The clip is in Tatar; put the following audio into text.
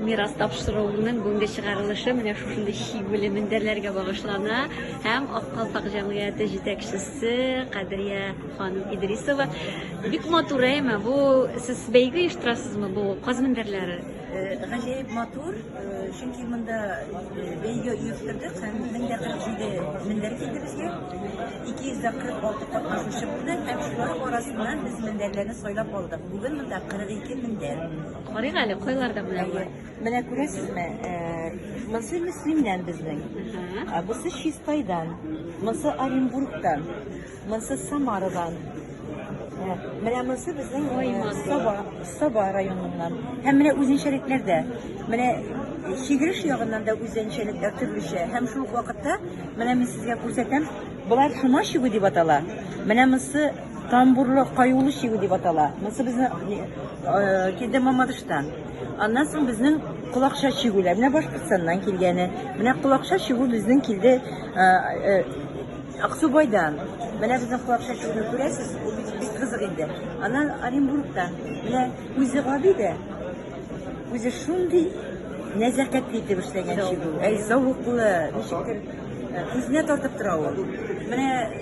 Мирас тапшыруының бүгенге чыгарылышы менә шушындый чигүле мендәрләргә багышлана һәм Ак калфак җәмгыяте җитәкчесе Кадрия ханым Идрисова. Бик матур әйме, бу сез бәйге оештырасызмы бу каз мендәрләре? Э, гаҗәеп матур, э, чөнки монда э, бәйге оештырдык һәм 1047 мендәр килде безгә. 246 катнашучы булды һәм шулар арасыннан без мендәрләрне сайлап алдык. Бүген монда 42 мендәр. Карыйк әле, кайларда менә болар. Менә күрәсезме, монсы Мөслимнән безнең, бусы Чистайдан, монсы Оренбургтан, монсы Самарадан. Менә монсы безнең Саба, Саба районыннан. Һәм менә үзенчәлекләр дә. Менә чигреш ягыннан да үзенчәлекләр төрлечә. Һәм шул ук вакытта, менә мин сезгә күрсәтәм, болар шума чигү дип атала. Менә монсы Тамбурлы каюлы чигү дип атала. Монысы безнең килде Мамадыштан. Аннан соң безнең колакша чигүләр. Менә Башкортстаннан килгәне. Менә колакша чигү безнең килде Аксубайдан. Менә безнең колакша чигүне күрәсез, ул бик бик кызык инде. Аннан Оренбургтан. Менә үзе гади дә. Үзе шундый нәзакәтле итеп эшләгән чигү. Әй, зәвыклы, ничектер күзенә тартып тора ул. Менә